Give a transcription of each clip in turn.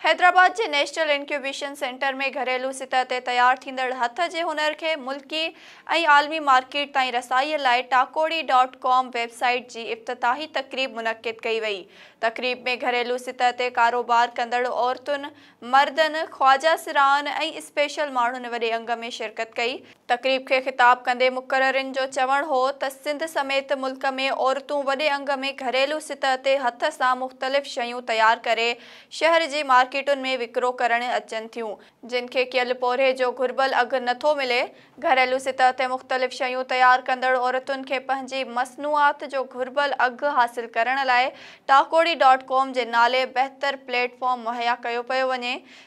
حيدرآباد جي national incubation centre ۾ گهريلو سطح تي تيار ٿيندڙ هٿ جي هنر کي ملڪي ۽ عالمي مارڪيٽ تائين رسائي لاء Takori dot com web site جي افتتاحي تقريب منعقد ڪئي وئي تقريب ۾ گهريلو سطح تي ڪاروبار ڪندڙ عورتن مردن خواجه سرائن ۽ اسپيشل ماڻهن وڏي انگ ۾ شرڪت ڪئي تقريب کي خطاب ڪندي مقررين جو چوڻ هو ته سنڌ سميت ملڪ ۾ عورتون وڏي انگ ۾ گهريلو سطح تي هٿ سان مختلف شيون تيار ڪري شهر جي مارڪيٽن ۾ وڪرو ڪرڻ اچن ٿيون جن کي ڪيل پورهيي جو گهربل اگهه نه ٿو ملي، گهريلو سطح تي مختلف شيون تيار ڪندڙ عورتن کي پنهنجي مصنوعات جو گهربل اگهه حاصل ڪرڻ لاء ٽاڪوڙي ڊاٽ ڪام جي نالي بهتر پليٽ فارم مهيا ڪيو پيو وڃي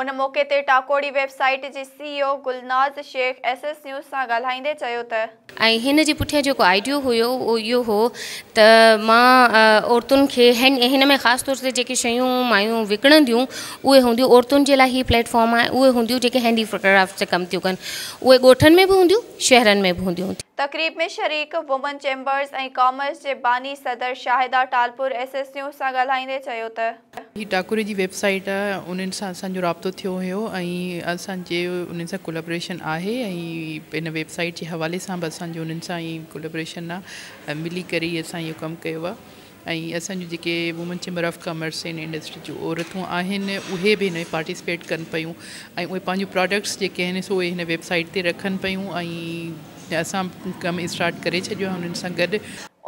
ان موقعي تي ٽاڪوڙي ويب سائيٽ جي C E O Gulnaz Shaikh S S news سان ڳالهائيندي چيو ته. ۽ هن جي پٺيان جيڪو آئيڊيو هيو اهو اهو هو ته مان عورتن کي هن ۾ خاص طور تي جيڪي شيون مايون وڪڻنديون اهي هونديون عورتن جي لاء هي پليٽ فارم آهي اهي هونديون جيڪي هينڊي ڪرافٽ تي ڪم ٿيون ڪن اهي ڳوٺن ۾ به هونديون شهرن ۾ به هونديون. تقريب ۾ شريڪ وومن چيمبرز ۽ ڪامرس جي باني صدر Shahida Talpur S S news سان ڳالهائيندي چيو ته. هي ٽاڪري جي ويب سائيٽ آهي انهن سان اسان جو رابطو ٿيو هيو ۽ اسان جي انهن سان ڪولابريشن آهي ۽ ان ويب سائيٽ جي حوالي سان به اسان جو انهن سان اهي ڪولابريشن آهي ۽ ملي ڪري ئي اسان اهو ڪم ڪيو آهي ۽ اسان جون جيڪي women chamber of commerce ۽ industry جون عورتون آهن اهي به هن ۾ پارٽيسپيٽ ڪن پيون ۽ اهي پنهنجون پراڊڪٽس جيڪي آهن سو اهي هن ويب سائيٽ تي رکن پيون ۽ اسان ڪم اسٽارٽ ڪري ڇڏيو آهي انهن سان گڏ.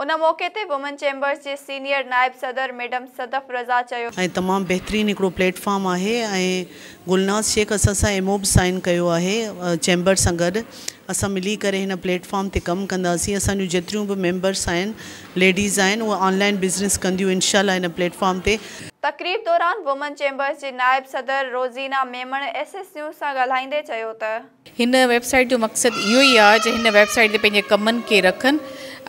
ان موقعي تي وومن چيمبرز جي سينيئر نائب صدر ميڊم صدف رضا چيو. ۽ تمام بهترين هڪڙو پليٽ فارم آهي ۽ گلناز شيخ اسان سان ايم او به سائين ڪيو آهي چيمبر سان گڏ اسان ملي ڪري هن پليٽ فارم تي ڪم ڪنداسين اسان جون جيتريون به ميمبرس آهن ليڊيز آهن اهي آن لائين بزنس ڪنديون انشاء الله هن پليٽ فارم تي تقريب دوران وومن چيمبرز جي نائب صدر Rozina Memon S S news سان ڳالهائيندي چيو ته. هن ويب سائيٽ جو مقصد اهو ئي آهي جو هن ويب سائيٽ تي پنهنجي ڪمن کي رکن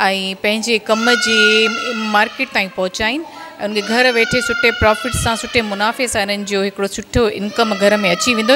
۽ پنهنجي ڪم جي مارڪيٽ تائين پهچائين ۽ ان کي گهر ويٺي سٺي پرافٽ سان سٺي منافعي سان انهن جو هڪڙو سٺو انڪم گهر ۾ اچي ويندو